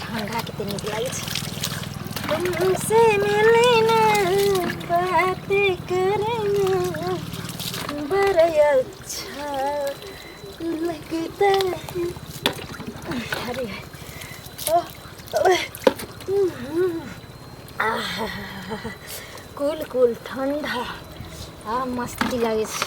ठंडा के तनी लागे छै तुमसे मिले ना बातें करे ना बड़ा अच्छा लगता है अरे ओह, ओह, हम्म, आहा, कूल कूल ठंडा आ मस्ती लागे छै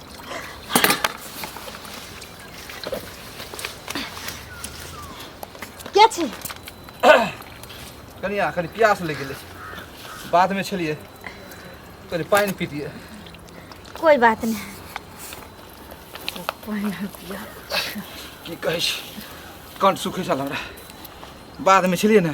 क्या छै कनिया कनि प्यास लागि गेलै बादमे छलियै कनि पानि पीतियै कोई बात नहीं पानि हम पिया की कहै छी कंठ सुखै छल हमरा बादमे छलियै ने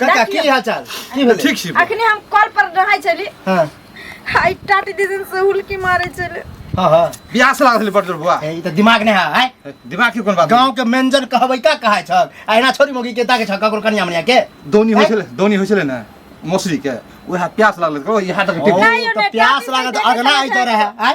काका की हाल चाल की भेलै ठीक छी अखने हम कॉल पर रहै छली हां आई टाटी दीदन से हुलकी मारे छले हां हां बियाह से लागल बड़ बुआ ए त दिमाग नै है दिमाग के कोन बात गांव के मेंजन कहबै का कहै छ आइना छोरी मोगी के ताके छ ककरो कनिया मनिया के दोनी होय छले दोनी होय छले ना मौसरी के ओहा प्यास लागल कहो इहा तक टिक प्यास लागल अगला आइ त रहे आइ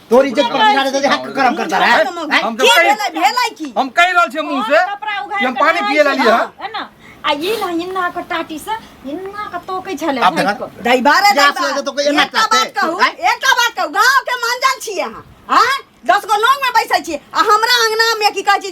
तोर इज्जत पर बिगाड़े दे हाथ गरम करता रहा है हम तो कहीं भेलै की हम कहि रहल छियै मुंह से कि हम पानी पिए ला लिया है ना आ ई ना इन्ना के टाटी से इन्ना के तोकै छले अब देखा दाई बारे जा से तो कोई ना कहते एकटा बात कहू गांव के मंजन छियै हां हां दस गो लोग में बैठे छियै आ हमरा अंगना में की कहै छी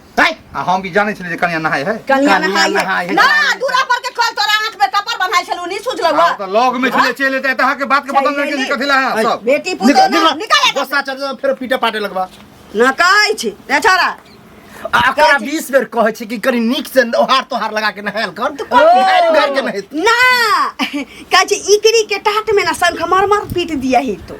हैं? आ हम भी जाने छले जे कन्या नहाय है कनिया कनिया नहाई नहाई है है। ना दूरा पर के कल तोरा आंख में कपर बंधाई छलू नहीं सुझलौ आ, तो लॉग में छले चले ते तहा के बात के बदल चले नहीं के कथि ला है ऐ, सब बेटी पुतो निकल, ना निकल। निकाल एतऽ। गोस्सा चढ़ जाओ, फेर पीटे पाटे लगबा ना कहै छी ए छोरा आ ओकरा 20 बेर कहै छै कि कनी नीक से ओहार तोहार लगा के नहायल कर तू नहायल उघार के नहायल ना कहै छी इकरी के टाट में ना शंख मरमर पीट दिया ही तो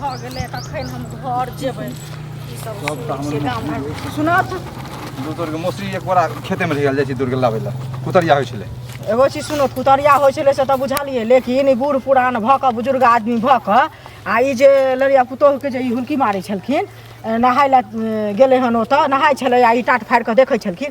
भऽ गेलै तखन हम घर जेबै ई सब सब तऽ हमर सुनै छियै गाम घर सुना तू दू तोरके मौसरी एक बोरा खेतेमे रहि गेल जाइ छी तोड़ि कऽ लाबै लए कुतरिया होइ छलै एगो चीज सुनो कुतरिया होइ छलै से तऽ बुझलियै लेकिन ई बूढ़ पुरान भऽ कऽ बुजुर्ग आदमी भऽ कऽ आ ई जे लड़िया पुतोहके जे ई हुलकी मारै छलखिन ए, नहाय लए ए, गेलै हन ओतऽ नहाय छलै आ ई टाट फाड़ि कऽ देखै छलखिन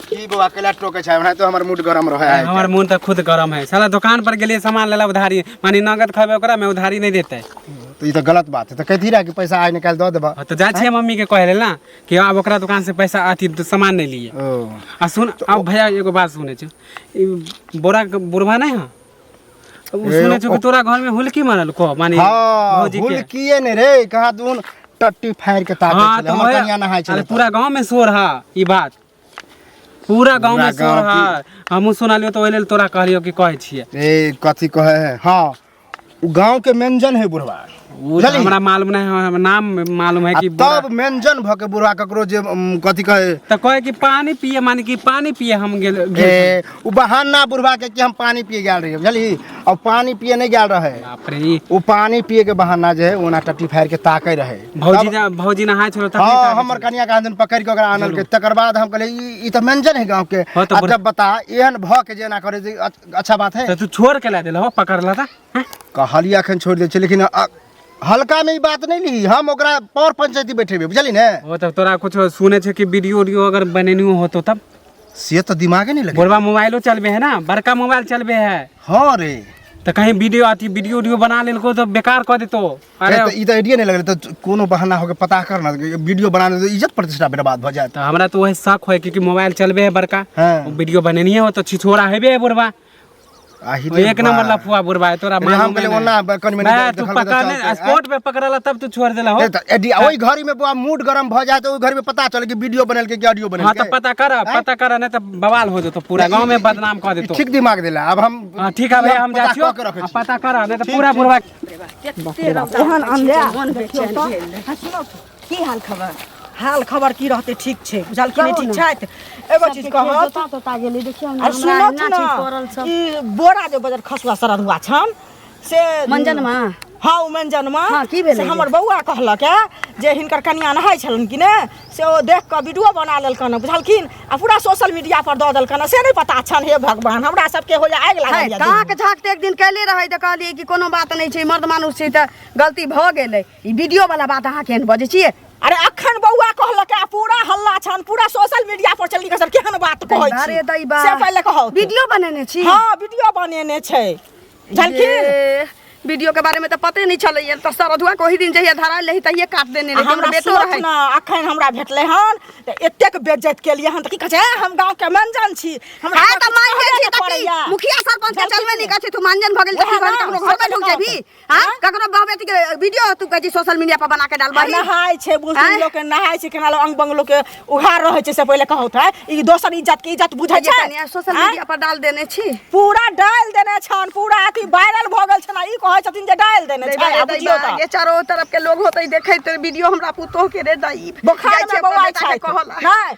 की बौआ कैला टोके छै हमरा तो हमर मूड गरम रहे है हमार मन तो खुद गरम है साला दुकान पर गेलिए सामान लेला उधारी मानी नगद खबे ओकरा में उधारी नहीं देते तो ई तो गलत बात है तो कहती रहा कि पैसा आज निकाल दो देबा हाँ, तो जा छिए मम्मी के कहे ना कि अब ओकरा दुकान से पैसा अथी द- सामान नहीं लिए ओ आ सुन अब भैया एगो बात सुने छो ई बोरा के बुढ़वा नहीं है अब उ ए, सुने छो कि ओ- तोरा घर में हुलकी मारल को मानी हाँ भौजी भूल के किए ने रे कहा दून टट्टी फाड़ के ताके हाँ चले तो हमर वहे- कन्या नहाय अरे चले पूरा गांव में शोर है ई बात पूरा गांव पूरा में शोर गाँव की- है हमहू सुनलियो तो ओहि लेल तोरा कहलियो कि कहै छियै ए कथी कहे है हाँ उ गांव के मेंजन है बुढ़वा उ तऽ बुझलिही? हमरा मालूम नहि है हमरा नाम मालूम है आ कि बुढ़ा- तब मेंजन भके बुढ़वा ककरो जे उम, कथी कहे तऽ कहै कि पानी पिए माने कि पानी पिए हम गेल गेल छलियै। ए ओ बहाना बुढ़वा के कि हम पानी पिए गेल रहिए बुझली और पानी पिए नहीं गेल रहे बाप रे ई ओ पानी पिए के बहाना जे है ओना टट्टी फाड़ के ताके रहे भौजी जा भौजी नहाय छोड़ तब हाँ हमर कनिया का दिन पकड़ के ओकरा आनल के तकर बाद हम कहले ई ई त मेंजन है गांव के हाँ, तो आ बुढ़- जब बता एहन भ के जेना करे जे अच- अच्छा बात है तो तू छोड़ के ला देला हो पकड़ ला था हैं? कहलिया अखन छोड़ दे छै लेकिन अ- हल्का में ई बात नहीं ली हम ओकरा पौर पंचायती बैठेबे बुझली ने ओ तब तोरा कुछ सुने छे कि वीडियो उडियो अगर बनेनी होतो तब से तो दिमागे नहीं लगे बोलबा मोबाइलो चलबे है ना बड़का मोबाइल चलबे है हाँ रे तो कहीं वीडियो अथी वीडियो उडियो बना लेलको तो बेकार कर देतो अरे अरे तो ई तो आइडिया नहीं लगे तो कोनो बहाना होके पता कर ना वीडियो बनाने तो इज्जत प्रतिष्ठा बर्बाद भ जाए तो हमरा तो वही शक है क्योंकि मोबाइल चलबे है बड़का हाँ। वीडियो बनेनी है वो तो छिछोरा हेबे है बोलबा आही एक नंबर लफुआ बुरबा है तोरा मालूम हम कहले नहीं। ओना ब- कनि मनि मैं तू देखल पकड़ चलते, आँय? स्पोर्ट पे पकड़ला तब तू छोड़ देला हो ए, त एडी ओइ घड़ी में बुआ मूड गरम भ जाए त ओइ घड़ी में पता चले कि वीडियो बनल के कि ऑडियो बनल हाँ तो के पता कर पता कर नहीं तो बवाल हो जतो पूरा गांव में बदनाम कर देतो ठीक दिमाग देला अब हम हाँ ठीक है भाई हम जा पता छियो कऽ के रखै हाँ, छी। पता कर नहीं तो पूरा बुरबा एहन अंधेरा की हाल खबर हाल खबर की रहते ठीक छै बुझल कि नहि कहू ठीक ने। छथि एगो चीज कहत तोता तोता गेली देखियो ने आ हमरा सुनत अहिना ठीक पड़ल सब ने ई बोरा जे बजर खसुआ सररुआ छन से मंजनमा हाँ ओ मंजनमा हाँ, की भेलै से हमर बौआ कहलक है जे हिनकर कनिया नहाय छलन कि ने से ओ देख कऽ वीडियो बना लेलकन बुझलखिन आ पूरा सोशल मीडिया पर दऽ देलकन से नहि पता छन हे भगवान हमरा सबके होइया आगि है, लागल काक झाक तऽ एक दिन कैले रहै तऽ कहलियै कि कोनो बात नहि छै मर्द मानुष छै तऽ गलती भऽ गेलै ई वीडियो वाला बात अहाँ केहन बजै छियै अरे अखन बौआ कहलक आ पूरा हल्ला छन पूरा सोशल मीडिया पर चलि के सब केहन बात कहै दैबा रे छी दैबा से पहिले कहौ वीडियो बनेने छी हां वीडियो बनेने छै झलकी ये, वीडियो के बारे में तो पते नहीं चलै है तो सरधुआ को ही दिन जहिया धरा ले तहिए काट देने आ रहे हमरा हमरा बेटो सोच रहे ना अखन हमरा भेटलै हन त एतेक बेइज्जत केलियै हन त की कहै छै "ए, हम गांव के मंजन छी हमरा हां तो सबके मान कहबे जे के छी कहबे पड़ैया। की मुखिया सरपंच के चलबे नहीं कहै छै तू मानजन भ गेल ओहे तऽ ना, ककरो घर पे ढुक जेबी हाँ हाँ? ककरो बहू बेटी के वीडियो तू कहै छी सोशल मीडिया पर बना के आ डालबही नहाय छै बुढ़ आँय? लोग के नहाय छै केना लोग अंग बंग लोग के उघार रहै छै से पहिले कहौत है ई दोसर इज्जत के इज्जत बुझै जे छै कनिया सोशल आँय? मीडिया पर डाल देने छी पूरा डाल देने छन पूरा अथी वायरल भ गेल छन आ ई कहै छथिन जे डाल देने दै छै बारे आ दै बुझियो बा, त ये चारो तरफ के लोग होते देखैत वीडियो हमरा पुतोह के रे दाई बोखार में बौआ छै कहला नै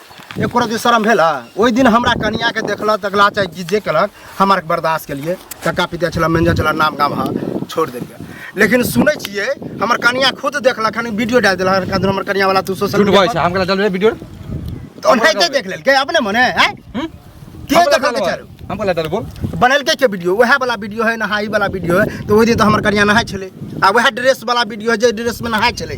एको रति शर्म भेल है ओहि दिन हमरा कनिया के देखला तकला चाहे जे- जे केलक हम आर बर्दाश्त केलिए कक्का पिता छला मैनेजर छला नाम गाम हाँ छोड़ देलिए लेकिन सुनै छियै हमर कनिया खुद देखलक हन वीडियो डाल देलक हन कहलक हमर कनिया वाला तू सोशल झूठ मीडिया बजै छै हम केना चलबै वीडियो पर। तो ओनाहिते देख लेलकै अपने मने है हम्म? के हम केना देखलकै चलबै? चारू हम केना चलबै बोल बनलकै के वीडियो वएह वाला वीडियो है नहाई वाला वीडियो है तो ओहि दिन तो हमर कनिया नहाय छलै आ वएह ड्रेस वाला वीडियो है जे ड्रेस में नहाय छलै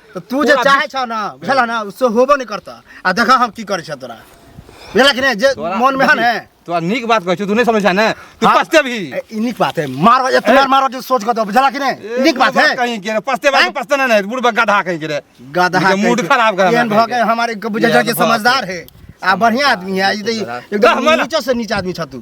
तो तू जे चाहे छौ ना बुझला ना उससे होबो नहीं करता आ देखा हम की करे छ तोरा बुझला कि नहीं जे तोरा- मन में है ना तोरा नीक बात कहै छौ तू नहि समझ छै ने तू हाँ। पछते भी ए, ई नीक बात है मारो ए तुम्हार मारो जो सोच कर दो बुझला कि नहीं नीक बात है कहीं के रे पछते बात हैं? पछते नहि बुढ़ गधा कहीं के रे गधा मुझे मूड कहीं के। खराब कर एहन भऽ गए हमारे बुझल ये कि बात समझदार है आ बढ़िया आदमी है ई तऽ ई- एकदम गहमला। नीचो से नीचा आदमी छ तू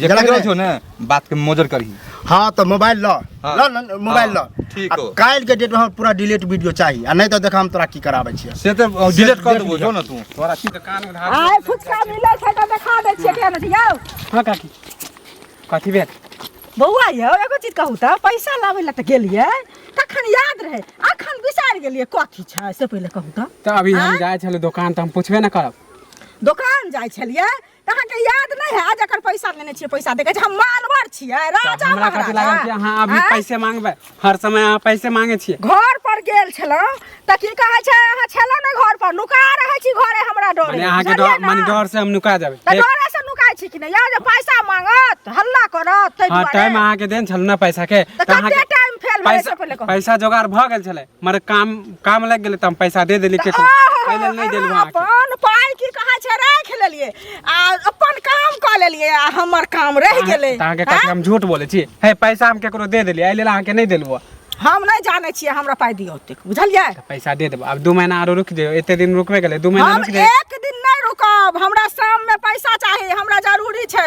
जेकरा के रहत हो ना बात के मोजर करही हाँ तो मोबाइल लो हाँ। लो न- मोबाइल लो हाँ, ठीक आ हो। काल्हि के डेट में हमरा पूरा डिलीट वीडियो चाहिए आ नहीं तो देखा हम तोरा की कराबै छियै से तो डिलीट कर देबो जो ना तू तोरा की कान में धार आइ फुचका मिलै छै तऽ देखा दै छियै केहन छै यौ हाँ काकी कथी भेल बौआ यौ एगो चीज कहू तऽ पैसा लाबै लए तऽ गेलियै तखन याद रहै अखन बिसारि गेलियै कथी छै से पहिले कहू तऽ तऽ अभी हम आँय? जाइ छलहुँ दोकान तऽ हम पूछबे ना करब दोकान जाइ छलियै अहाँके याद नहि है जकर पैसा लेने छियै पैसा देखे छै हम मानवर छियै राजा हमरा कथी लागल कि महाराजा अहाँ अभी आँय? पैसे मांगबै हर समय अहाँ पैसे मांगे छियै घर पर गेल छलहुँ तऽ की कहै छै अहाँ छलहुँ ने घर पर नुका रहै छी घरे हमरा डरे माने अहाँके बुझलियै डर ने? माने डर से हम नुका जाबै तऽ एक- डरे से नुकाइ छी कि नहि यौ जे पैसा मांगत हल्ला करत ताहि हाँ दुआरे टाइम अहाँके देन छल ने पैसा के तऽ तऽ कते अहाँके टाइम फेल भेलै से पैसा पहिले कहू पैसा जोगाड़ भऽ गेल छलै मरे काम काम लग गेले त हम पैसा दे देली के पहिले नहीं देलु अहाँ के अपन पाई की कहा छै राख लेलिए आ अपन काम क लेलिए आ हमर काम रह गेले त अहाँ के कथि हम झूठ बोले छी हे पैसा हम केकरो दे देली आइले अहाँ के नहीं देलु हम नहीं जाने छिए हमरा पाई दियो ओतेक बुझलिए पैसा दे देबो अब दू महीना आरो रुक जाओ एते दिन रुकबे गेले दू महीना हम रुक जाओ एक दिन नहीं रुकब हमरा शाम में पैसा चाहिए हमरा जरूरी छै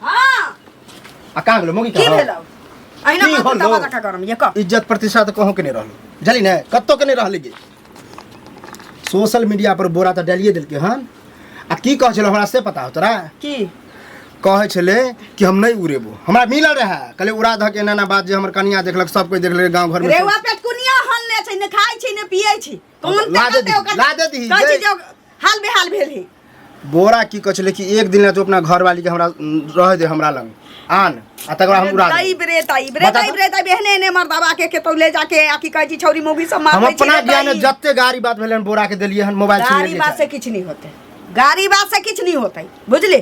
हाँ आ कहाँ गेलो मोगी की कहाँ भेलौ अहिना की मत होलो? बतावा रखा करम ये कह इज्जत प्रतिष्ठा तो कहूँ के नहीं रहल जली ने कत्तो के नहीं रहल गे सोशल मीडिया पर बोरा तो डालिए दिलके हन आ की कहे छलो हमरा से पता हो तोरा की कहे छले कि हम नहीं उड़ेबो हमरा मिलल रहे कहले उड़ा धऽ के एना एना बात जे हमर कनिया देखलक सब कोई देखले गांव घर में रेवा पेट कुनिया हल ने छै ने खाइ छै ने पियै छै कोन हाँ, ला दे ताकत है दी, ओकर? ला दे दी, कौन जय- चीज है ओकर? हाल बेहाल भेल है बोरा की कह छलै कि एक दिन ला तू अपना घर वाली के हमरा रह दे हमरा लग आन आ तकर बाद हम उड़ा देब। ताइब रे ताइब रे बता ताइब तो। रे ताइब एहने एहने मर्दाबा के केतौ ले जाके आ की कहै छी छौरी मौगी सब हम मार अपना ज्ञान में जते गाड़ी बात भेलै हन बोरा के देलियै हन मोबाइल छीन गाड़ी लेलियै बात से किछु नहि होतै गाड़ी बात से किछु नहि होतै बुझली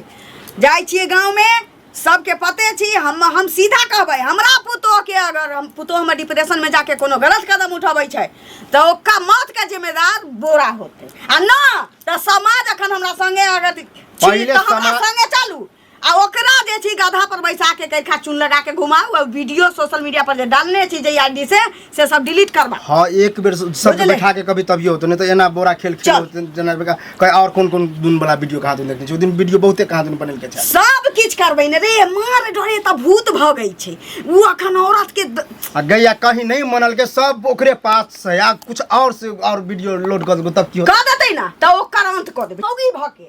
जाइ छियै गाँवमे सबके पते छी हम हम सीधा कहबै हमरा पुतोहके अगर हम पुतोहमे डिप्रेशनमे जाके कोनो गलत कदम उठबै छै तऽ ओकर मौतके जिम्मेदार बोरा होतै आ नहि तऽ समाज एखन हमरा सङ्गे अगर छी पहिले तऽ हमरा समाज- सङ्गे चलू आ ओकरा जे छी गधा पर बैसा के कैखा चुन लगा के घुमाऊ आ वीडियो सोशल मीडिया पर जे डालने छी जे आईडी से से सब डिलीट करबा हाँ एक बेर सब बुझले? बैठा के कभी तभियो होतो नहीं तो एना बोरा खेल खेल चल। होते, जना बेका कहीं और कौन कौन दिन वाला वीडियो कहाँ दिन देखने छी ओ दिन वीडियो बहुते कहाँ दिन बनल के छै सब किछ करबै ने रे मार डरे त भूत भ गई छै उ अखन औरत के द- आ गैया कहीं नहीं मनल के सब ओकरे पास से या कुछ और से और वीडियो लोड कर देबो तब की होतो? क देतै ना त ओकर अंत क देबै औगी भ के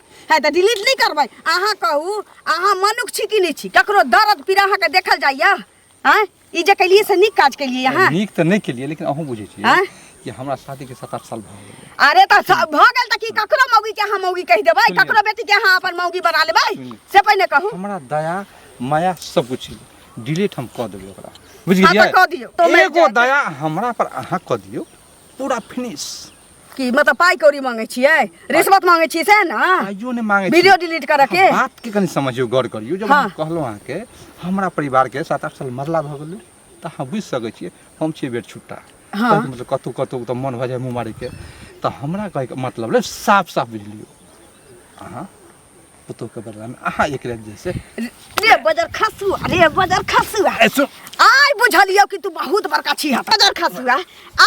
है तऽ डिलीट नहि करबै अहाँ कहू अहाँ मनुख छी कि नहि छी ककरो दर्द पीड़ा अहाँके देखल जाइए आँय ई जे केलियै से नीक काज केलियै अहाँ नीक तऽ नहि केलियै लेकिन अहूँ बुझै छियै आँय? कि हमरा शादी के सात आठ साल भऽ गेलै अरे तऽ स- भऽ गेल तऽ की ककरो मौगी के अहाँ मौगी कहि देबै सुनियौ। ककरो बेटी के अहाँ अपन मौगी बना लेबै सुनियौ। से पहिने कहू हमरा दया माया सब कुछ छलै डिलीट हम कऽ देबै ओकरा बुझि हाँ, तऽ कऽ दियौ। गेलियै तो मैं एगो जाके- दया हमरा पर अहाँ कऽ दियौ पूरा फिनिश की मतलब पाई कौड़ी मांगे छियै रिश्वत मांगे छियै सएह ने आइयो ने मांगे छी। वीडियो डिलीट करऽ के अहाँ बात के कनी समझियो गौर करियो जब हाँ। हम कहलो अहाँ के हमरा परिवार के सात आठ साल मरला भ गेलै त अहाँ बुझि सकै छियै हम छियै बेर छुट्टा हाँ। कहैके मतलब कतौ कतौ त मन भऽ जाय मुँह मारै के त हमरा कहैके मतलब रहै साफ साफ बुझि लियौ अहाँ पुतोह के बदला में अहाँ एकरा जैसे रे बजर खसुआ रे बजर खसुआ ए, सुन आइ बुझलियौ कि तू बहुत बड़का छी हतरा बजर खसुआ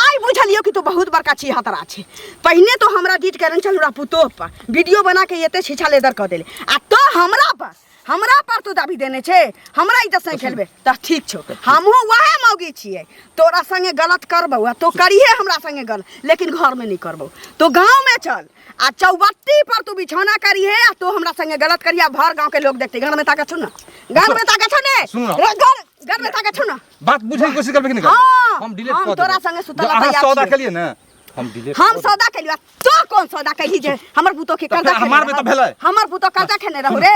आइ बुझलियौ कि तू बहुत बड़का छी हतरा छी पहिने तो हमरा डीट करन चल रहा पुतोह पर वीडियो बना के एते छीछा लेदर कऽ देले आ तो हमरा पर हमरा पर तू दाबी देने छे हमरा इज्जत से खेलबे तऽ ठीक छौ हमहूँ वएह मौगी छियै तोरा संगे गलत करबौ आ तो करिहे हमरा संगे गलत लेकिन घर में नहीं करबौ तो गाँव में चल आ चौबत्ती पर तू बिछौना करी है आ तू हमरा संगे गलत करी आ भर गांव के लोग देखते घर में ताका छू ना घर में ताका छू ने सुन ना। रे, घर घर में ताका छू ना बात बुझे के कोशिश करबे कि नहीं करबे? हाँ, हम डिलीट हम कर तोरा देबे। संगे सुतल जो अहाँ तैयार सौदा छियै। के लिए ना हम डिलीट हम कर सौदा कैलियो तो कौन सौदा कैली जे हमर पुतो के तो कर्जा फेर खेने हमार में तो रहब। भेलै। हमर पुतो कर्जा खेने रहू रे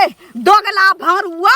दोगला भरुआ